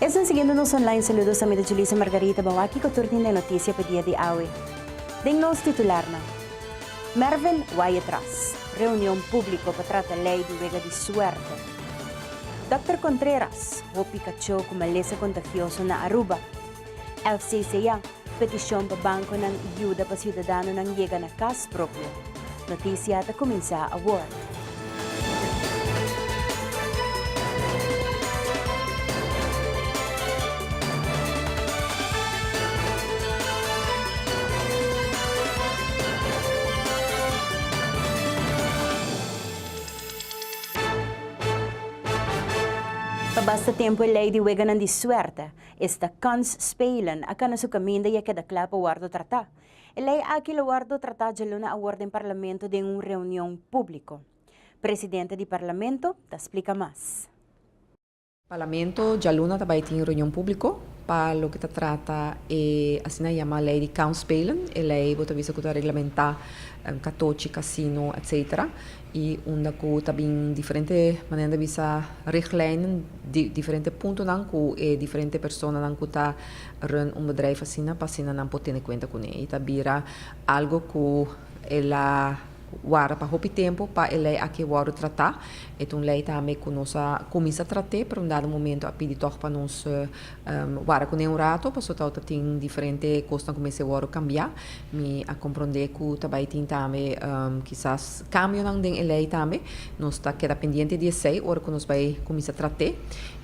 Esnan siguiendo nos online saludos ta mida Julissa Margarita Bawaki cu tur tin den noticia pa dia di awe. Den nos titularnan. Mervin Wajetras reunion publico pa trata ley di wega di suerte. Dokter Contreras hopi cacho cu malesa contagioso na Aruba. El CCA. Petishon pa bankonan yuda pa siudadanonan yega na kas propio. Notisia ta kuminsá awor. Pa basta tempu e lei di weganan di suerte Esta kans spelen a kana su kaminda i a keda kla pa wòrdu tratá. E lei aki lo wòrdu tratá djaluna awor den Parlamento den un reunion públiko. Presidente di Parlamento ta splika mas. Parlamento djaluna ta bai tin reunion públiko pa loke ta trata e asina yama lei di kans spelen. E lei bo ta bisa ku ta reglamentá katochi, kasino, etc. I unda ku ta bin diferente manera di bisa richtlijnen, di diferente puntonan ku e diferente personanan ku ta run un bedrijf asina pa asina nan por tene kuenta kuné. I ta bira algu ku el a warda pa hopi tempu pa e lei aki wòrdu tratá. E ta un lei tambe ku nos a kuminsá trat'é, pero un dado momento a pidi tòg pa nos Wara ku n'e un rato, paso tau ta tin diferente kosnan ku mester wòrdu kambiá. Mi a komprondé ku ta bai tin tambe kisas kambionan den e lei tambe. Nos ta keda pendiente di esei ora ku nos bai kuminsá trat'é.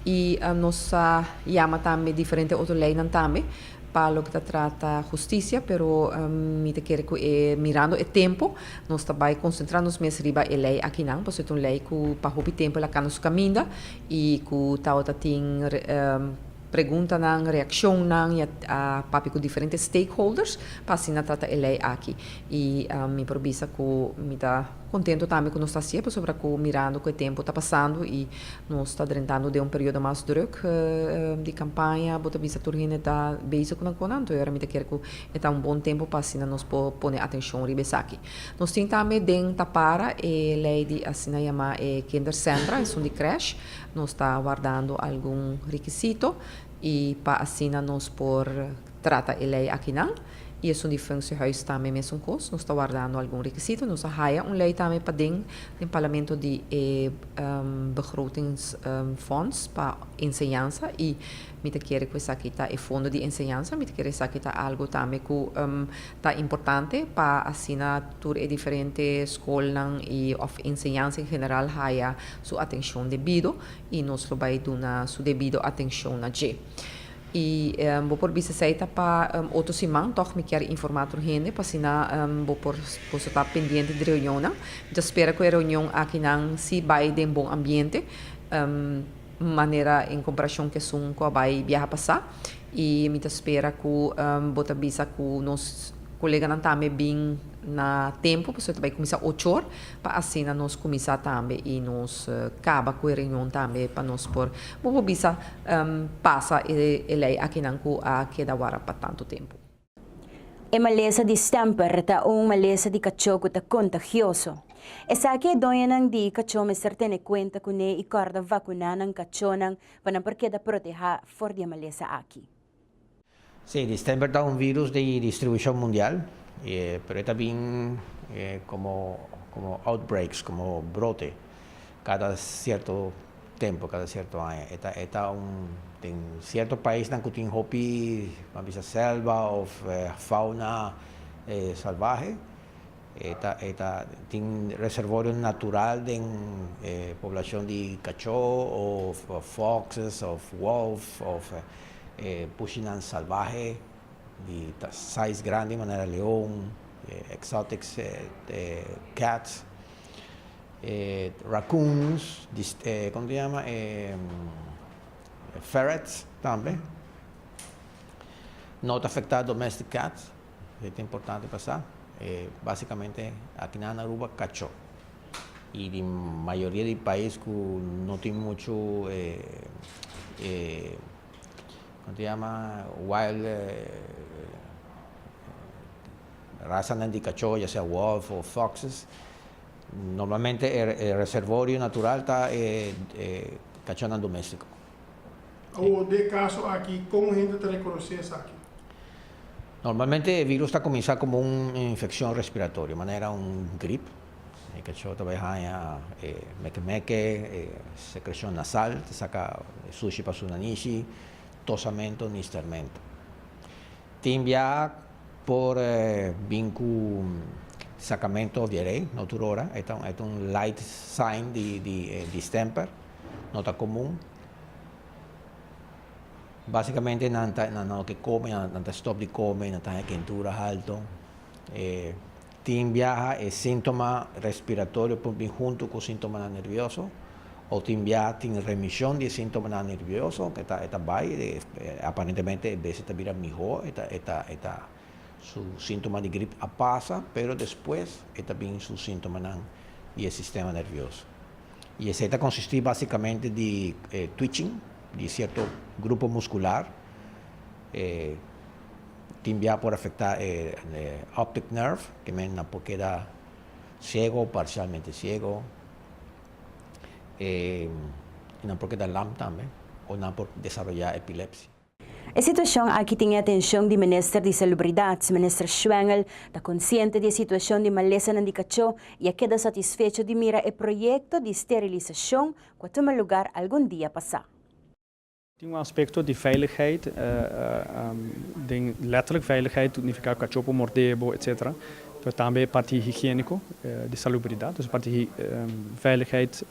I nos a yama tambe diferente otro leinan tambe pa loke ta trata hustisia, pero mi ta kere ku e mirando e tempu nos ta bai konsentrá nos mes riba e lei akinan, paso e ta un lei ku pa hopi tempu el a kana su kaminda I ku tabata tin preguntanan, reakshonnan i a papia ku diferente stakeholders pa asina trata e lei aki. I mi por bisa ku mi ta kontentu tambe ku nos ta hasié pasobra ku mirando ku e tempu ta pasando i nos ta drentando den un periodo mas drùk di kampaña bo ta bisa tur hende ta bezig ku nan konan anto e ora mi ta kere ku e ta un bon tempu pa asina nos por pone atenshon riba esaki. Nos tin tambe den ta para e lei di asina yamá e kindersentra, esun di crèsh. Nos ta wardando algun rekisito i pa asina nos por trata e lei akinan. I esun di Fungtiehuis tambe mesun kos, nos ta wardando algun rekisito. Nos a haya un lei tambe paden den Parlamento di e Begrotingsfonds pa Enseñansa i. Mi ta kere ku esaki ta e fondo di enseñansa, mi ta kere esaki ta algu tambe ku ta importante pa asina tur e diferente skolnan i òf enseñansa en general haya su atenshon debido i nos lo bai duna su debido atenshon na dje. I bo por bisa esei ta pa otro siman, tòg mi kier informá tur hende pa asina bo por boso ta pendiente di reunionnan. Mi ta spera ku e reunion akinan si bai den bon ambiente. manera en comparacion cu esun cu a bay biaha pasa y mi ta spera cu bo ta bisa cu nos coleganan tambe bin na tempo pasobra ta bay cuminsa ochor pa asina nos cuminsa tambe y nos caba cu e reunion tambe pa nos por bo por bisa pasa e ley akinan cu a keda wara pa tanto tempo. E malesa di Stamper ta un malesa di kachó ku ta kontagioso. Esaki e doñonan di kachó mester tene kuenta kuné i kòrda vakuná nan kachónan pa nan por keda protehá for di e malesa aki. Sí, di Stamper ta un vírus di distribushon mundial, pero e ta bin komo outbreaks, komo brote. Cada cierto tempo, cada cierto aña, e ta, e ta un, tin cierto paisnan cu tin hopi, a bisa selva of fauna salvahe, e ta, e ta, tin reservorio natural den e poblacion di cacho of foxes of wolf of e pushinan salvahe di size grandi manera leon, exotics cats. e raccoons, di e como ta llama e ferrets tambe no ta afecta domestic cat e ta importante pa sa e basicamente aki nan Aruba cacho y di mayoria di pais cu no tin mucho e e como ta llama wild. Rasanan di kachó, ya sea wolf o foxes, normalmente e reservorio natural ta e kachónan doméstiko. Awor den e kaso aki, kon hende ta rekonosé esaki? Normalmente e virus ta kuminsá komo un infekshon respiratorio, manera un grip. E kachó ta bai haña e mèkemèke, e sekreshon nasal ta saka sushi pa su nanishi, tosamento, nistermento. Tin biaha por bin cu sacamento of the array, no tur ora. E ta un light sign di distemper, no ta comun. Basicamente nan ta na lo ke come, nan ta stop di come, nan ta haña kentura halto. Tin biaha e síntoma respiratorio por bin huntu ku síntomanan nervioso, o tin biaha tin remishon di e síntomanan nervioso, ku e ta bai, aparentemente e bese ta bira mihó, e ta su síntoma di grip a pasa, pero despues e ta bin su síntomanan di e sistema nervioso. I esei ta konsistí básikamente di twitching di sierto grupo muskular. Tin bia por afecta e optic nerve, ke men nan por keda ciego o parcialmente ciego. E nan por keda lam tambe o nan por desaroya epilepsia. E situacion aki tin e atencion di Minister di Salubridad, Minister Schwengel ta conciente di e situacion di malesanan di cacho y a keda satisfecho di mira e proyecto di sterilisacion cu a tuma lugar algun dia pasa. Tin un aspekto di veiligheid den letterlijk veiligheid nifiká ku kachó por mordé bo etc. Pero tambe e parti higiéniko di salubridat, dus e parti veiligheid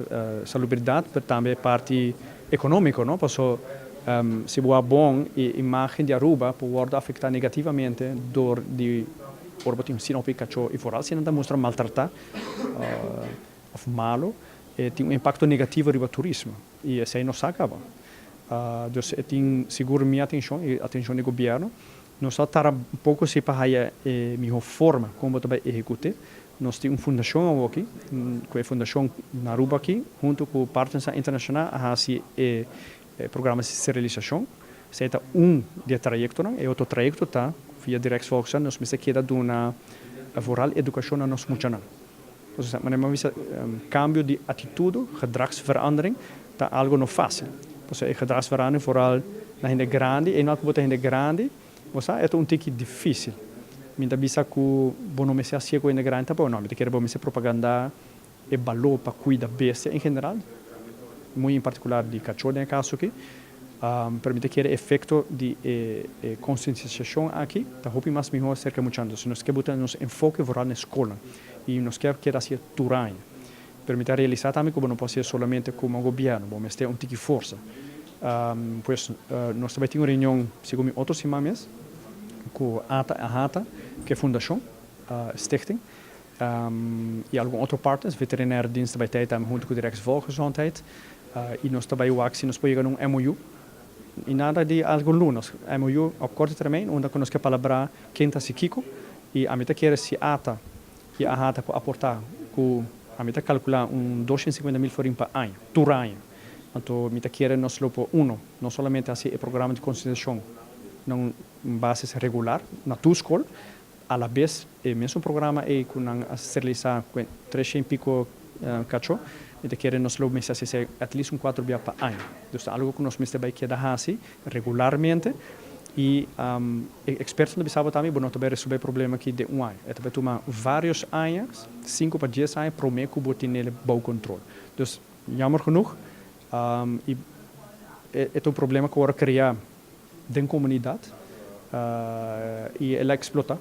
salubridat pero tambe e parti ekonómiko no paso si bo a bon e imágen di Aruba por wòrdu afektá negativamente dor di ora bo tin asina hopi kachó i foral si nan ta mustra maltratá òf malu tin un impakto negativo riba turismo. I esei no sa kaba. Dios e tin sigur mi atenshon i atenshon di gobièrnu. Nos a tara un poko si pa haya e mihó forma kon bo ta bai ehekut'é. Nos tin un fundashon awoki, ku e fundashon na Aruba aki, huntu ku partnernan internashonal a hasi e programa di sterilisashon. Esei ta un di e trayektonan. E otro trayekto ta, via Directsvolksraad, nos mester keda duna vooral edukashon na nos muchanan. Kambio di atitudo, gedragsverandering, ta algo no fásil. Por eso e gedragsverandering vooral na hende grandi, einoal ku bo ta hende grandi, bo sa e ta un tiki difísil. Mi ta bisa ku bo no mester hasié ku hende grandi tampoco, no, mi ta kere bo mester propagandá e baló pa kuida bestia en general, muy en particular di kachó den e kaso akí. Para mi ta kere efecto di e conscientisacion aki ta hopi mas miho acerca muchantu. Si nos ke buta nos enfoke vooral na escolnan y nos ke keda haci'e tur aña. Pero mi ta realisa tambe cu bo no por haci'e solamente como un gobierno, bo mester un tiki forsa. Pues nos ta bay tin un reunion segun mi otro siman mes cu Ata Ahata, cu e fundacion, stichting, i algun otro partes. Veterinariedienst ta bai tei tambe hunto cu di Rijksvolksgezondheid i nos ta bai wak si nos por yega na un MOU i nan rai di algu lunes. MOU op corto termijn unda cu nos ke palabra ken ta haci kico i ami ta kere si ata i aha ta por aporta cu ami ta calcula un dos ciento cincuenta mil florin pa aña, tur aña. Anto mi ta kere nos lo por uno no solamente haci e programa di concientizacion na un basis regular na tur school, Alabes e mesun programa ei ku nan a sterilisá kuen tres shen piko kachó, mi ta kere nos lo mester hasié at least un kuater bia pa aña. Dus ta algu ku nos mester bai keda hasi regularmente i e ekspertonan ta bisa bo tambe bo no ta bai resolbé e problema aki den un aña. E ta bai tuma vários aña, sinku pa dies aña, promé ku bo tenel bou kontrol. Dus, yammer genoeg, i e ta un problema ku a wòrdu kreá den comunidad y el a explota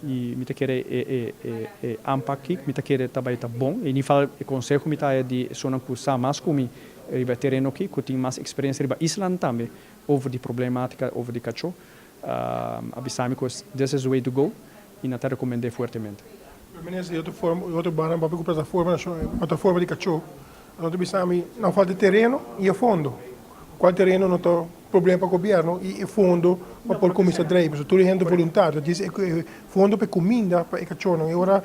y mi ta kere e anpak aki mi ta kere ta bay ta bon y nifal e conseho mi ta haya di esonan cu sa mas cu mi riba e tereno aki cu tin mas experiencia riba islan tambe over di problematica over di cacho a bisami cu this is the way to go y nan ta recomende fuertemente. Minister y otro banda nan papia cu plataforma nacional plataforma di cacho No ta bisa mi nan falta e tereno y e fondo. Cual tereno no ta problema pa gobierno y e fondo pa por cuminsa draiba. So tur e hende voluntario ta disa e fondo pa e cuminda pa e cachornan. Y ora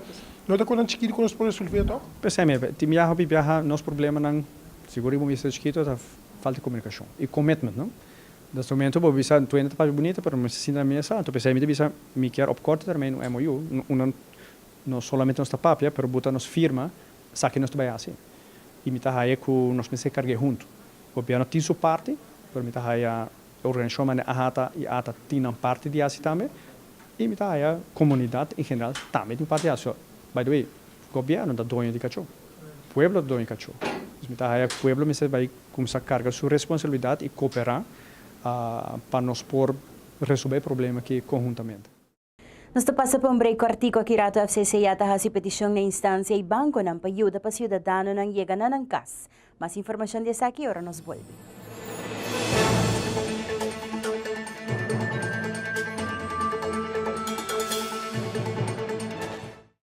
no ta cosnan chiquito cu nos por resolve toc. P'esei mi tin biaha hopi biaha nos problemanan si bo riba un ministerio chiquito ta falta e comunicacion y commitment no. Des momento bo bisa tuenda ta papia bunita pero no mester sinta na mesa anto p'esei mi ta bisa mi kier op corto termino un MOU unda no solamente nos ta papia pero bo ta nos firma Esaki nos ta bai hasi i mi ta haña ku nos mester karg'é huntu. Gobièrnu tin su parti, pero mi ta haña e organishon manera AHATA i ATA tin nan parti di hasi tambe, i mi ta haña komunidat en general tambe tin parti hasi. By the way, gobièrnu ta doño di kachó, pueblo ta doño di kachó, dus mi ta haña ku pueblo mester bai kuminsá karga su responsabilidat i kooperá pa nos por resolbé e problema aki konhuntamente. Nos ta pasa pa un break kòrtiku aki rato FCC ya ta hasi petishon na instansia i bankonan pa yuda pa siudadanonan yega na nan kas. Mas informashon di esaki ora nos bolbe.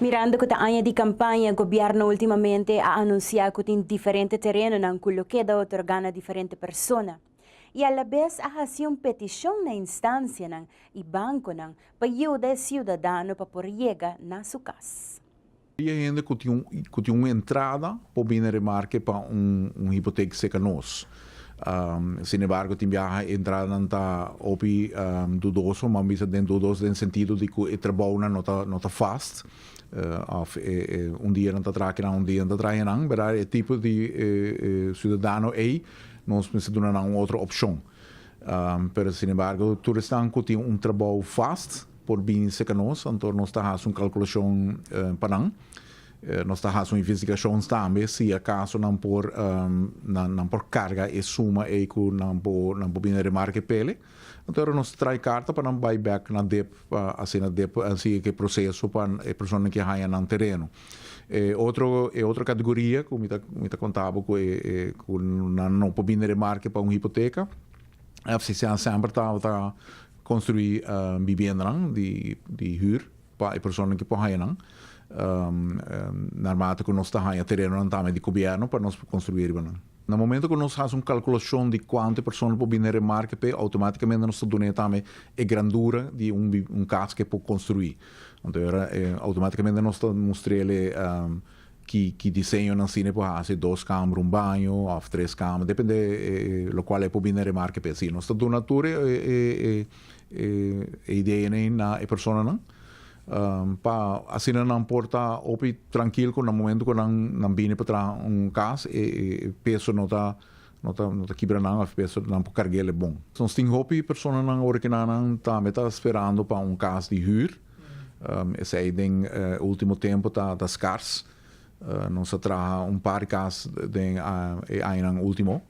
Mirando cu ta aña di campaña, gobierno ultimamente a anuncia cu tin diferente terenonan cu lo keda otorga na diferente persona y alabes a haci un peticion na instancianan y banconan pa yuda e ciudadano pa por yega na su cas. E hende ku tin ku tin un entrada por bini remarke pa un un hipotek serka nos. Sin embargo tin biaha e entradanan ta hopi dudoso, m'a bisa den dudoso den sentido di ku e trabounan no ta no ta fast òf e e un dia nan ta traha kinan un dia nan ta traha kinan bera. E tipo di e e siudadano ei nos mester duna nan un otro opshon. Pero sin embargo tur esnan ku tin un trabou fast. por bin seka nos, anto nos ta hasi un kalkulashon pa nan. Nos ta hasi un investigashon tambe si akaso nan por nan por karga e suma ei ku nan por nan por bini remarka e pele. Anto hora nos trai karta pa nan bai bèk na dep pa asina dep sigue ku e proseso pa e personanan ke haña nan tereno. E otro e otro kategoria ku mi ta mi ta kontaba ku e e ku nan no por bini remarka pa un hipoteka, FCCA semper ta ta Construi bibendanan di hür pa e personanan ki por haña nan. Narmate cu nos ta haña terenonan tambe di Cobierno pa nos por construi riba nan. Na momento cu nos haci un calculacion di cuantu e personanan por bini remarca p'e, automaticamente nos ta dun'e tambe e grandura di un cas cu e por construi. Anto era automaticamente nos ta mustr'el e Ki diseñonan asina e por hasi, dos kamer, un baño òf tres kamer, depende lokual e por bini a remarka p'e asina. Nos ta duna tur e ideanan ei na e personanan pa asina nan por ta hopi trankil ku na momentu ku nan bini pa traha un kas e peso no ta kibra nan òf e peso nan por karg'el bon. Nos tin hopi personanan ora ku nan tambe ta sperando pa un kas di hür. Esei den e ultimo tempo ta ta skars. Nos a traha un par di kas den e añanan ultimo,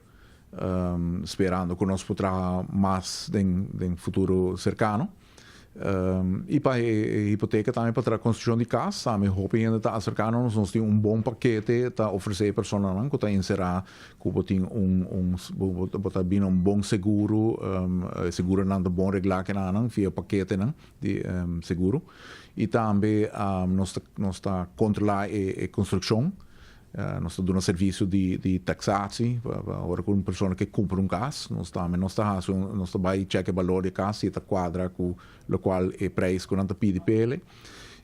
sperando ku nos por traha mas den den futuro serkano. I pa e hipoteka tambe pa traha konstrukshon di kas tambe hopi hende ta aserká na nos. Nos tin un bon pakete ta ofresé e personanan ku ta inserá ku bo tin un un bo ta bini na un bon seguro, e seguro nan ta bon reglá kenanan via paketenan. di seguro y tambe nos ta nos ta controla e e construccion nos ta duna servicio di di taxaci pa pa ora cu un persona ke cumpra un cas nos tambe nos ta haci un nos ta bay check e balor di e cas si e ta cuadra cu locual e prijs cu nan ta pidi pa el'e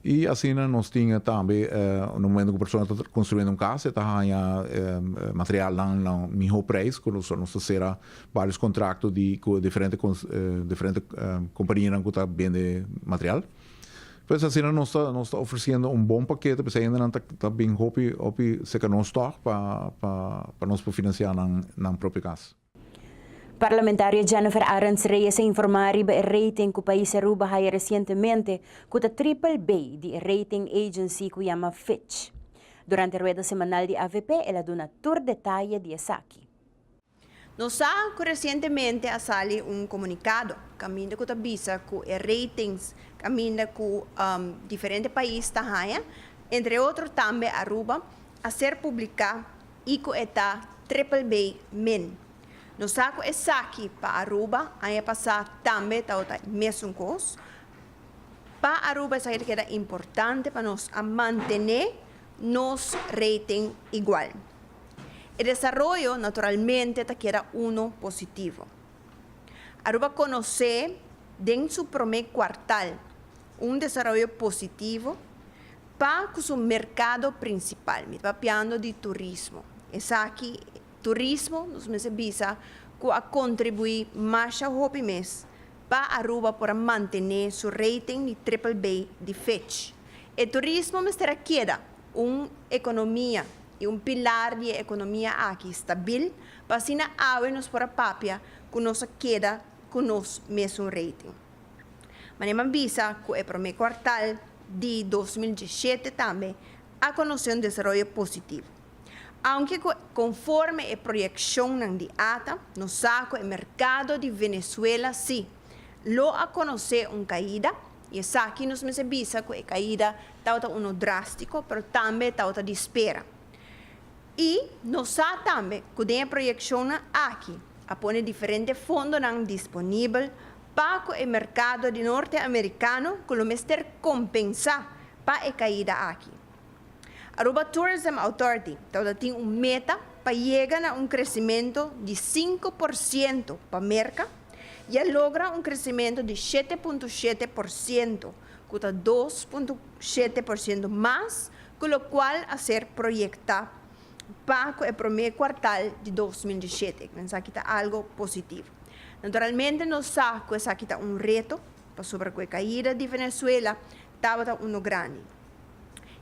y asina nos tin tambe na momento cu persona ta construyendo un cas e ta haya materialnan na miho prijs cu nos ta cera Varios contracto di cu diferente diferente companianan cu ta bende material. Pues asina nos ta nos ta ofreciendo un bon pakete pa esey hendenan ta ta bin hopi hopi cerca nos tog pa pa pa nos por financia nan nan propio cas. Parlamentario Jennifer Arends Reyes a informa riba e rating cu pais Aruba haya recientemente cu ta triple bay di e rating agency cu yama Fitch. Durante rueda semanal di avp el a duna tur detaye di esaki. Nos sa cu recientemente a sali un comunicado caminda cu ta bisa cu e ratings caminda cu diferente pais ta haya, entre otro tambe Aruba, a ser publica y cu e ta Triple B min. Nos sa cu esaki pa Aruba aña pasa tambe tabata e mesun cos. Pa Aruba esaki ta keda importante pa nos a mantene nos rating igual. E desaroyo naturalmente ta keda uno positivo. Aruba konosé den su promé kuartal un desaroyo positivo pa ku su merkado prinsipal, mi ta papiando di turismo. Esaki turismo nos mester bisa ku a kontribuí masha hopi mes pa Aruba por a mantené su rating di triple B di Fitch. E turismo mester a keda un ekonomia i un pilar di e ekonomia aki stabil pa asina awe nos por a papia ku nos a keda ku nos mesun rating. Maneman bisa ku e promé kuartal di dos mil diesshete tambe a konosé un desaroyo positivo, aunke ku konforme e proyekshonnan di ata nos sa ku e merkado di Venezuela si lo a konosé un kaida, I esaki nos mester bisa ku e kaida tabata unu drástiko, pero tambe tabata di spera. I nos sa tambe ku den e proyekshonnan aki a pone diferente fondonan disponibel pa ku e merkado di Norte Amerikano ku lo mester kompensá pa e kaida aki. Aruba Tourism Authority tabata tin un meta pa yega na un kresimentu di sinku por siento pa Merka, i a logra un kresimentu di shete punto shete por siento, ku ta dos punto shete por siento mas ku lokual a ser proyektá pa ku e promé kuartal di dos mil dieshete. Ku esaki ta algu positivo. Naturalmente nos sa ku esaki ta un reto, pasobra ku e kaida di Venezuela tabata unu grandi.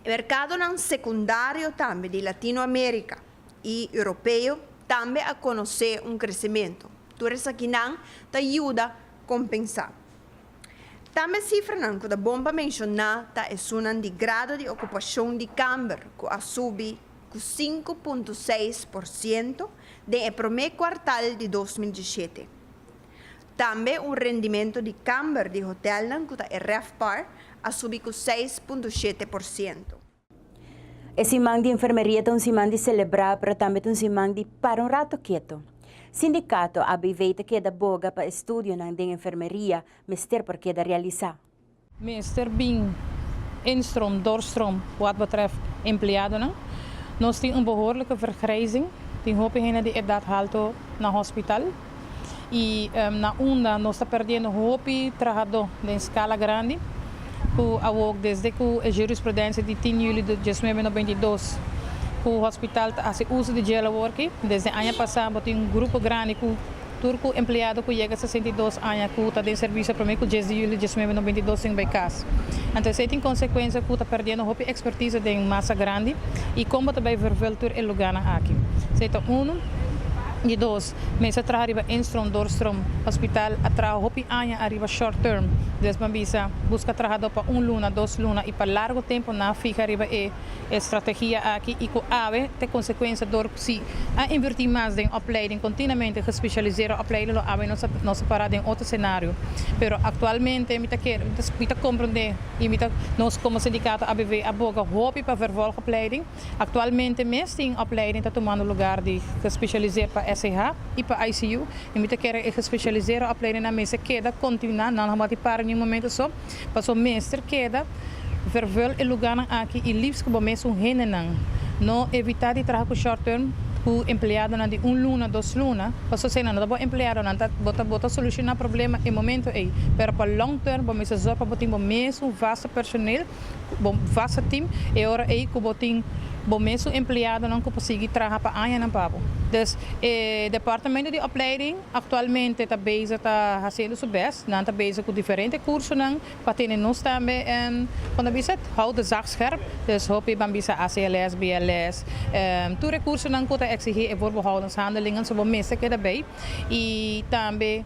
E merkadonan sekundario tambe di Latinoamerika i Europeo tambe a konosé un kresimentu. Tur esakinan ta yuda kompensá. Tambe sifranan ku ta bon pa menshoná ta esunnan di grado di okupashon di kamber ku a subi ku sinku punto seis por siento den e promé kuartal di dos mil diesshete. Tambe un rendimentu di kamber di hotèlnan ku ta e RevPAR a subi ku seis punto shete por siento. E siman di enfermeria ta un siman di selebrá pero tambe ta un siman di para un rato keto. Sindikato ABV ta keda boga pa e studionan den enfermeria mester por keda realisá. Minister Bing Enstrom Dorstrom Ku at betrèf empleadonan, Nos tin un behoorlijke vergrijzing, tin hopi hende di edat halto na hospital. y na unda nos ta perdiendo hopi trahador den scala grandi cu awor desde cu e jurisprudencia di tin juli di diesnuebe noventa y dos cu hospital ta haci uso di jail awor aki desde aña pasa bo tin un grupo grandi cu tur cu empleado cu yega sesenta y dos aña cu ta den servicio aprome cu dies di juli di diesnuebe noventa y dos tin bay cas anto esey tin consecuencia cu ta perdiendo hopi expertiza den masa grandi y con bo ta bay vervul tur e lugarnan aki esey ta uno y dos. Mester a traha riba één strom, dor strom. Hospital a traha hopi aña ariba short term, desban bisa, buska trahadó pa un luna, dos luna i pa largo tempo na fiha riba e estrategia aki i ku awe te konsekuensia dor si a invertí mas den opleiding kontinuamente gespesialisera opleiding lo awe nos a para den otro senario pero aktualmente mi ta kere mi ta komprondé i mi ta nos komo sindikato ABV a boga hopi pa vervolgopleiding. Actualmente mes tin opleiding ta tumando lugar di gespecialiser pa SCH y pa ICU y mi ta kere e gespecialisera opleidingnan mester keda continua, nan lo mati para ningún momento so, pasobra mester keda vervul e lugarnan aki y liefst cu bo mes un hendenan. No evita di traha cu short term cu empleadonan di un luna, dos luna, pasobra si enan no ta bo empleadonan ta bo ta bo ta soluciona problema e momento ey, pero pa long term bo mester zorg pa bo tin bo mes un vasto personel, bo vasa team e ora ei ku bo tin bo mes su empleadonan ku por sigui traha pa añanan pa bo. Dus e Departamento di Opleiding aktualmente ta bezig ta hasiendo su best, nan ta bezig ku diferente kursonan pa tene nos tambe en kon ta bisa et hou de zaag scherp, dus hopi ban bisa ACLS, BLS, tur e kursonan ku ta eksigí e woordbehoudenshandeling so bo mester keda bei i tambe.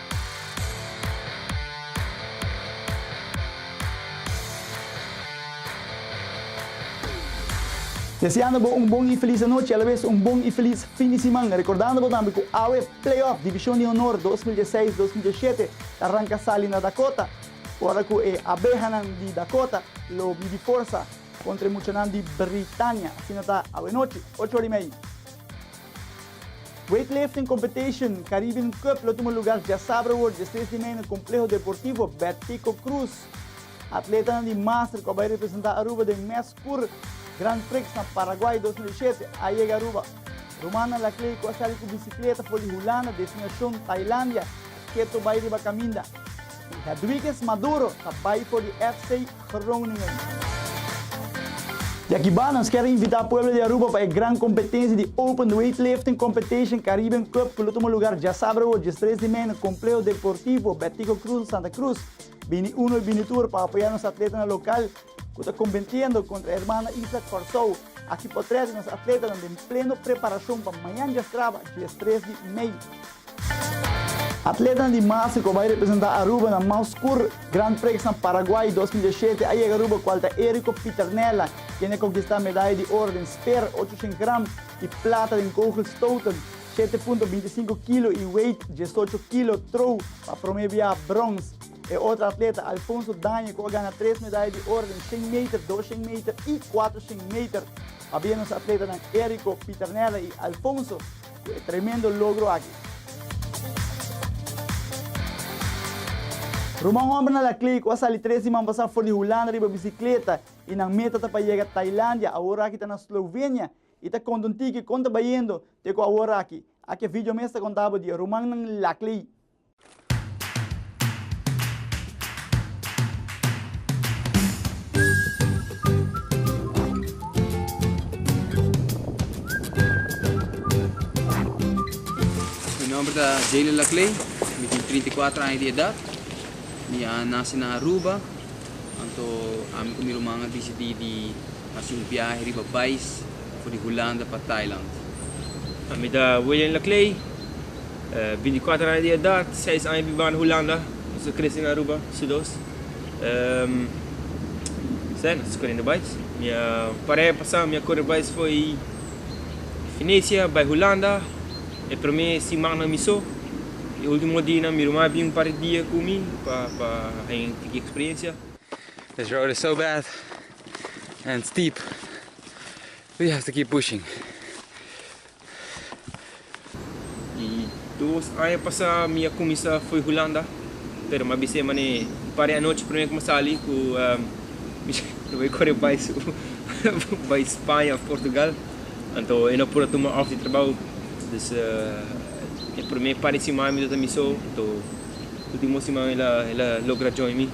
Deseando bo un bon y feliz anochi, alabes un bon y feliz fin di siman. Recordando bo tambe cu awe playoff Divicion di Honor dos mil diesiseis, dos mil diesisiete ta arranca sali na Dakota, ora cu e Abehanan di Dakota lo midi forsa contra e muchanan di Britania. Asina ta awe nochi, ocho ora y medio. Weightlifting Competition, Caribbean Cup, lo tuma lugar djasabra awor diestres di mei na Compleho Deportivo Bettico Cruz. Atletanan di Master cu a bay representa Aruba den mes cur Grand Prix na Paraguay dos mil i shete a yega Aruba. Romana Laclay cu a sali cu bicicleta for di Hulanda, destinacion Tailandia, keto bay riba caminda. Hedwiges Maduro ta bai for di FC Groningen. Di akiba nos kier invita pueblo di Aruba pa e gran kompetensia di Open Weightlifting Competition Caribbean Cup ku lo tuma lugar djasaber awor diestres di mei na Complejo Deportivo Betico Cruz Santa Cruz. Bini uno i bini tur pa apoya nos atletanan lokal ku ta kompentiendo kontra Hermana Isla Kòrsou. Aki potret di nos atletanan den pleno preparashon pa mañan djastraba diestres di mei. Atletanan di Masi ku a bai representá Aruba na Mauskur Grand Prix na Paraguay dos mil diesiete a yega Aruba kual ta Erico Pitternella kende a konkistá medaya di oro den speer ochocientos gram i plata den kogelstoten shete punto binti sinku kilo i weit diesocho kilo trow pa promé bia brons e otro atleta Alfonso Daño ku a gana tres medaya di oro den shen meter dos shen meter i kuater shen meter pabia nos atletanan Erico Pitternella i Alfonso Tremendo logro aki. Ruman Hombernan Laclée cu a sali tres di man pasa for di Hulanda riba bicicleta y nan meta ta pa yega Tailandia, awor aki ta na Slovenia, y ta conta un tiki con ta bayendo te cu awor aki. Aki a video mes ta contabo di e rumannan Laclée. Mi nomber ta Jaylen Laclay, mi tin trinta i kuater aña di edat, mi a nase na Aruba, anto ami ku mi ruman a disidí di hasi un biahe riba bais for di Hulanda pa Thailand. Mi ta William Laclay, Binticuater aña di edat, seis aña bibá na Hulanda, nos a krese na Aruba sudos. Esei nos a korendo bai. Mi a paré pasá, mi a kore bai fo'i Finesia, bai Hulanda. E promé simannan mi so, e último dinan mi ruma a bin un par di dia ku mi pa pa haña un tiki eksperensia. This road is so bad and steep, we have to keep pushing. E dos aña pasá mi a kuminsá foi Hulanda, pero mi a bisa e manera un par di anochi primer ku mi a sali ku mi lo bai kore bai su bai Spaña òf Portugal. Anto e no a pura tuma òf di trabou. Dus e primer par di siman mi tabata mi so, anto ultimo siman el a el a logra join mi.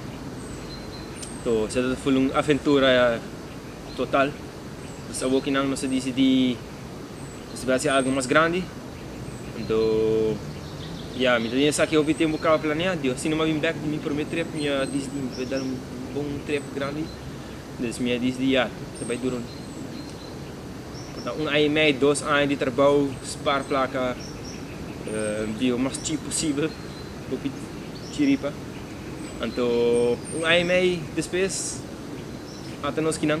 Anto esei tabata full un aventura total. Nos awokinan nos a disidí. Nos ta bèstia algu mas grandi. Anto, ya, mi ta bini esaki hopi tempu kaba planea. Dios tin nomás bin bèk di mi promé trip. Mi a dis di mi ta bai dal un bon trip grandi. Entonces mi a dis di ya, mi ta bai dura un por ta un aña i mei, dos aña di trabou, spar plaka, biba mas chip posibel, hopi chiripa. Anto, un aña i mei despues, ata nos kinan.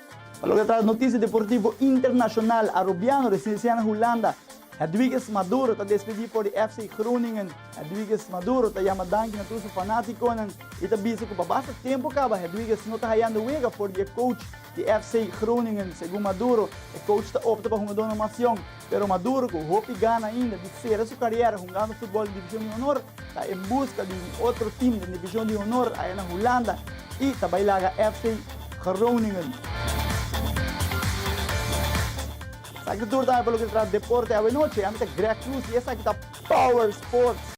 Pa loke ta notisia deportivo internashonal, Arobiano resin resin a na Hulanda. Hedwiges Maduro ta despedí for di FC Groningen. Hedwiges Maduro ta yama danki na tur su fanátikonan i ta bisa ku pa basta tempu kaba Hedwiges no ta hayando wega for di e coach di FC Groningen. Segun Maduro, e coach ta opta pa hungadónan mas yòn. Pero Maduro, cu hopi gana ainda di cera su cariera hungando futbol den Division di Honor, ta en busca di un otro team den Division di Honor aya na Hulanda y ta bay laga FC Groningen. Esaki tur tambe pa loke ta trata deporte awe nochi. Ami ta Greg Cruz y esaki ta Power Sports.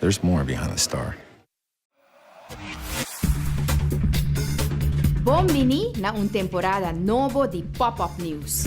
There's more behind the star. Bon bini na un temporada nobo di Pop Up News!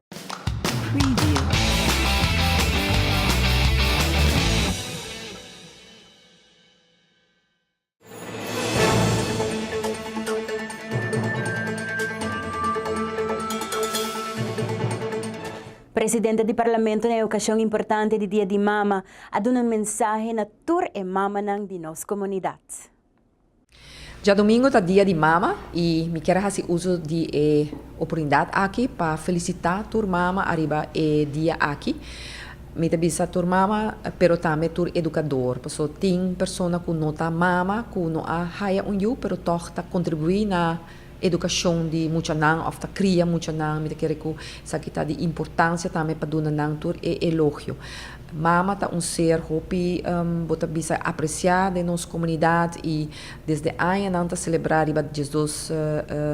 Presidente di Parlamento na e ocasion importante di Dia di Mama a duna mensahe na tur e mamanan di nos comunidad. Djadomingo ta Dia di Mama y mi kier a haci uso di e oportunidad aki pa felicita tur mama ariba e dia aki. Mi ta bisa tur mama pero tambe tur educador, paso tin persona cu no ta mama cu no a haya un yu pero tog ta contribui na. edukashon di muchanan òf ta kria muchanan, mi ta kere ku esaki ta di importansia tambe pa duna nan tur e elogio. Mama ta un ser hopi bo ta bisa e apresiá den nos komunidat i desde aña nan ta selebrá riba diesdos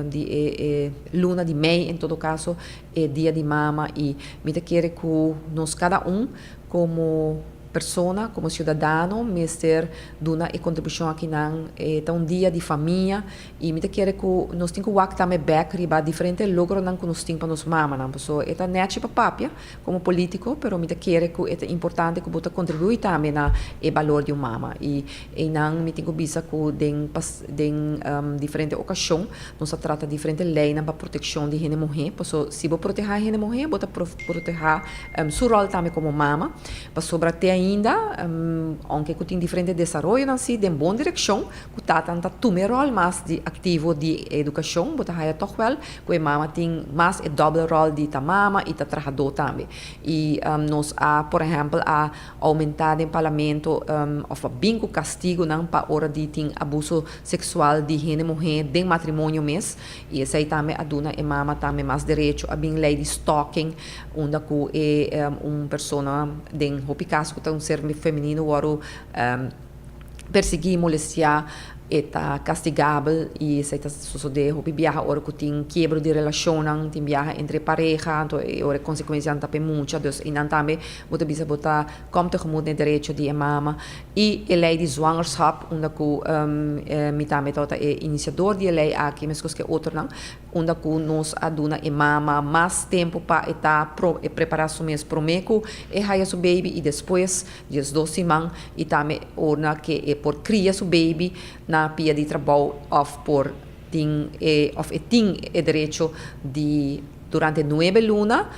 di e e luna di mei en todo kaso e Dia di Mama i mi ta kere ku nos kada un komo persona, komo siudadano mester duna e kontribushon akinan, e ta un dia di famia. I mi ta kere ku nos tin ku wak ta me bèk riba diferente logronan ku nos tin pa nos mamanan. Paso e ta nèchi pa papia komo polítiko, pero mi ta kere ku e ta importante ku bo ta kontribuí tambe na e balor di un mama. I einan mi tin ku bisa ku den den diferente okashon nos a trata diferente leinan pa protekshon di hende muhé. Paso si bo protehá hende muhé bo ta protehá su ròl tambe komo mama. Pasobra te ainda, ounke ku tin diferente desaroyonan si den bon direkshon, Ku tatan ta tuma e ròl mas di aktivo di e edukashon, bo ta haña tòg wèl ku e mama tin mas e dòbel ròl di ta mama i ta trahadó tambe. I nos a, por ehèmpel, a oumentá den parlamento òf a bin ku kastigunan pa ora di tin abuso seksual di hende muhé den matrimonio mes, i esei tambe a duna e mama tambe mas derecho. A bin lei di stalking unda ku e un persona den hopi kas ku ta un ser femenino wòrdu. persiguí, molestiá e ta kastigabel i esei ta sosodé hopi biaha ora ku tin kiebro di relashonnan, tin biaha entre pareha, anto e ora e konsekuensianan ta pe mucha, dus einan tambe bo ta bisa bo ta kòm tegemut na e derecho di e mama i e lei di zwangerschap unda ku mi tambe ta wòrdu e inisiador di e lei aki meskos ku e otronan unda ku nos a duna e mama mas tempu pa e ta e prepará su mes promé ku e haya su beibi i despues Dios dos siman i tambe orna ke e por kria su beibi na pia di trabou òf por tin e òf e tin e derecho di durante nuebe luna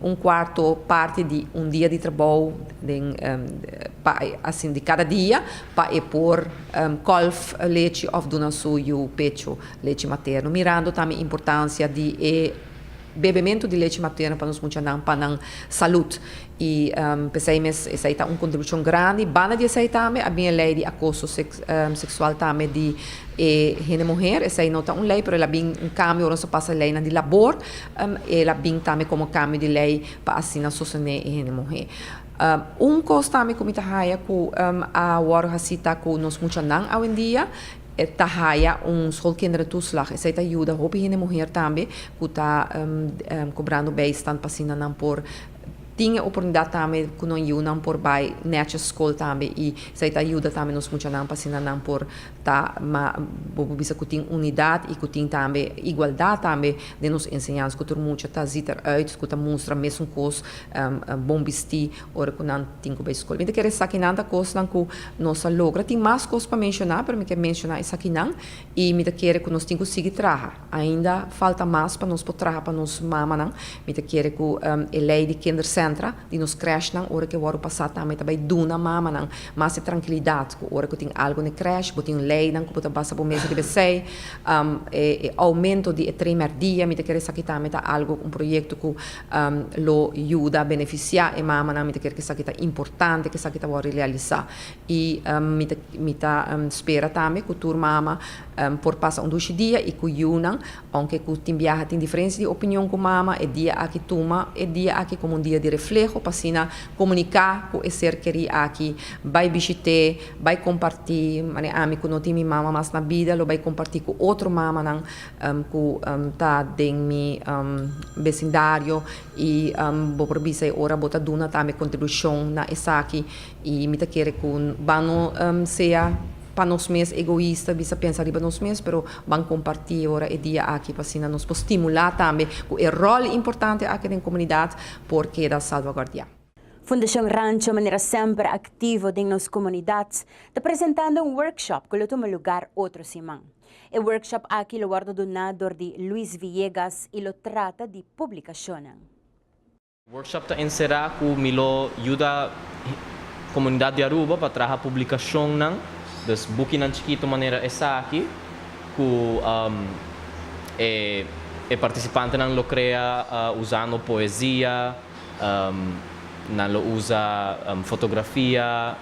un kuarto parti di un dia di trabou den pa asin di kada dia pa e por kòlf lechi òf duna su yu pechu lechi materno mirando tambe importansia di e bebementu di lechi materno pa nos muchanan pa nan salut. I p'esei mes esei ta un kontribushon grandi. Banda di esei tambe a bin e lei di akoso seksual tambe di e hende muher. Esei no ta un lei, pero el a bin un kambio ora nos a pasa leinan di labor. El a bin tambe komo kambio di lei pa asina sostené e hende muher. Un kos tambe ku mi ta haña ku a wòrdu hasi ta ku nos muchanan awendia ta haña un schoolkinderentoeslag. Esei ta yuda hopi hende muher tambe ku ta kobrando bijstand pa asina nan por Tin e oportunidat tambe ku nos yunan por bai nechi skol tambe i esei ta yuda tambe nos muchanan pa asina nan por ta ma bo por bisa ku tin unidat i ku tin tambe igualdat tambe den nos enseñansa ku tur mucha ta ziet er uit ku ta mustra mesun kos bon bistí ora ku nan tin ku bai skol. Mi ta kere esakinan ta kosnan ku nos a logra. Tin mas kos pa menshoná pero mi ke menshoná esakinan i mi ta kere ku nos tin ku sigui traha. Ainda falta mas pa nos por traha pa nos mamanan. Mi ta kere cu e ley di kindercentra di nos crèshnan ora cu e wòrdu pasá tambe ta bay duna mamanan mas e trankilidad cu ora cu tin algu n'e crèsh bo tin leynan cu bo ta basa bo mes riba esey. E aumento di e trimer dia mi ta kere esaki tambe ta algu un proyecto cu lo yuda beneficiá e mamanan. Mi ta kere cu esaki ta importante cu esaki ta wòrdu realisá y mi ta spera tambe cu tur mama Por pasa un dushi dia i ku yunan, ounke ku tin biaha tin diferensia di opinion ku mama, e dia aki tuma e dia aki komo un dia di refleho pa asina komuniká ku e ser kerí aki, bai bishit'é, bai kompartí, manera ami ku no tin mi mama mas na bida lo bai kompartí ku otro mamanan ku ta den mi besindario i bo por bisa e ora bo ta duna tambe kontribushon na esaki. I mi ta kere ku ban no sea pa nos mes egoista, bisa pensa riba nos mes, pero ban kompartí ora e dia aki pa asina nos por stimulá tambe ku e ròl importante aki den komunidat por keda salvaguardiá. Fundashon Rancho manera semper aktivo den nos komunidat ta presentando un workshop ku lo tuma lugar otro siman. E workshop aki lo wòrdu duná dor di Luis Villegas i lo trata di publikashonnan. Workshop ta encerá cu mi lo yuda comunidad di Aruba pa traha publicacionnan, dus bukinan chikito manera esaki cu e participantenan lo crea uzando poesia, nan lo uza fotografia,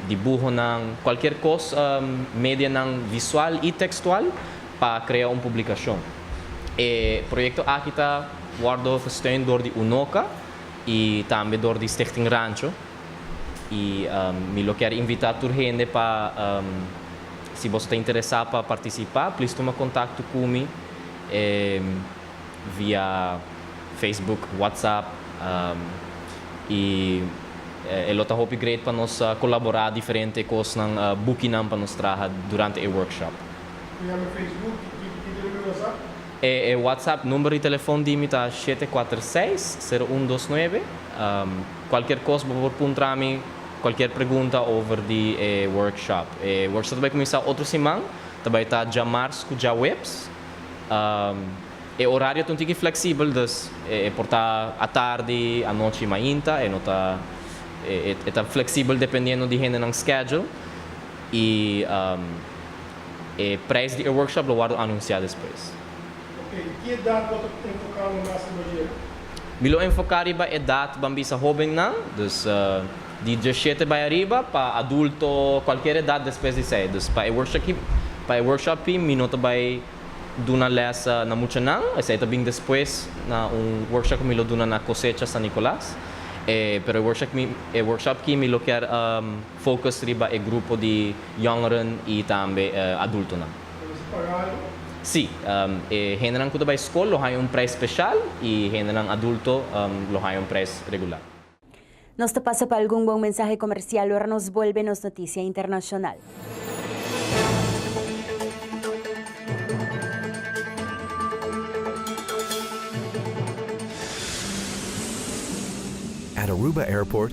dibuhonan, cualkier cos medianan visual y textual. pa krea un publikashon. E proyekto aki ta wòrdu gesteun dor di UNOCA i tambe dor di Stichting Rancho i mi lo kier invitá tur hende pa si boso ta interesá pa partisipá plis tuma kontakto ku mi via Facebook, WhatsApp i e lo ta hopi great pa nos kolaborá diferente kosnan, bukinan pa nos traha durante e workshop. E WhatsApp number di telefon di mi ta shete kuater seis, sero un dos nuebe. Kualkier kos bo por puntra mi kualkier pregunta over di e workshop. E workshop ta bai kuminsá otro siman, ta bai ta djamars ku djaweps. E orario ta un tiki fleksibel, dus e por ta atardi, anochi, mainta, e no ta e ta fleksibel dependiendo di hendenan schedule. Y e prijs di e workshop lo wordo anuncia despues. Ok, ki edat bo ta enfoca lo mas riba di e? Mi lo enfoca riba edat ban bisa hobennan, dus di diashete bay ariba pa adulto cualkier edat despues di esey. Dus pa e workshop aki, pa e workshop aki mi no ta bay duna les na muchanan, esey ta bin despues na un workshop cu mi lo duna na Cosecha San Nicolas. Pero e workshop aki mi lo kier. Focus riba e grupo di jongeren y tambe adultonan. Lo bisa pagado? Sí. E hendenan cu ta bay scol lo haya un prijs special y hendenan adulto lo haya un prijs regular. Nos ta pasa pa algun bon mensahe comercial ora nos bolbe nos noticia internacional. At Aruba Airport,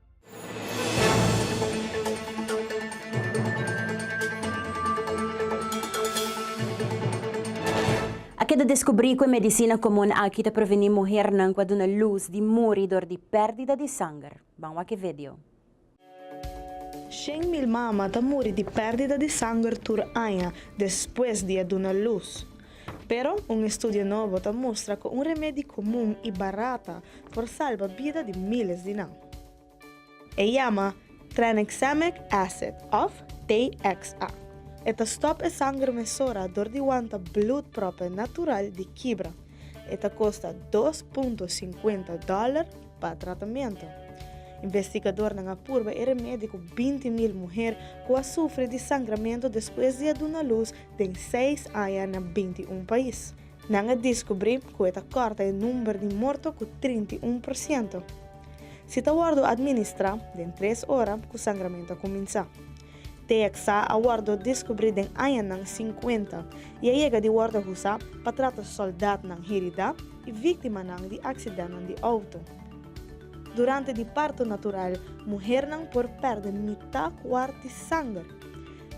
A keda deskubrí ku e medisina komun aki ta previní muhernan ku a duna lus di muri dor di pèrdida di sanger. Ban wak e video. Shen mil mama ta muri di pèrdida di sanger tur aña despues di a duna lus. Pero un estudio nobo ta mustra ku un remedi komun i barata por salba bida di míles di nan. E yama Tranexamic Acid òf TXA. E ta stòp e sanger mesora dor di wanta blùt pròpe natural di kibra. E ta kosta dos punto sinkuenta dòler pa tratamentu. Investigadornan a purba e remedi ku binti mil muher ku a sufri di sangramentu despues di a duna lus den seis aña na binti i un pais. Nan a diskubrí ku e ta kòrta e number di morto ku trinta i un por siento. Si ta wòrdu administrá den tres ora ku sangramentu a kuminsá. TXA a wòrdu diskubrí den añanan sinkuenta i a yega di wòrdu husá pa trata sòldatnan hiridá i víktimanan di aksidèntnan di outo. Durante di parto natural muhernan por pèrdè mitá kuart di sanger.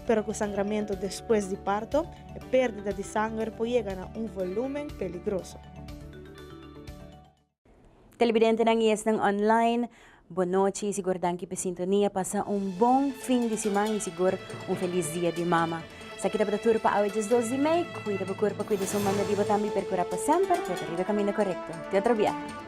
Pero ku sangramentu despues di parto, e pérdida di sanger por yega na un volúmen peligroso. Telebidentenan i esnan online, Bon nochi i sigur danki p'e sintonia. Pasa un bon fin di siman i sigur un felis Dia di Mama. Esaki tabata tur pa awe diesdos di mei. Kuida bo kurpo, kuida su manda di bo tambe i perkurá pa semper trata riba kaminda korekto. Te otro biaha.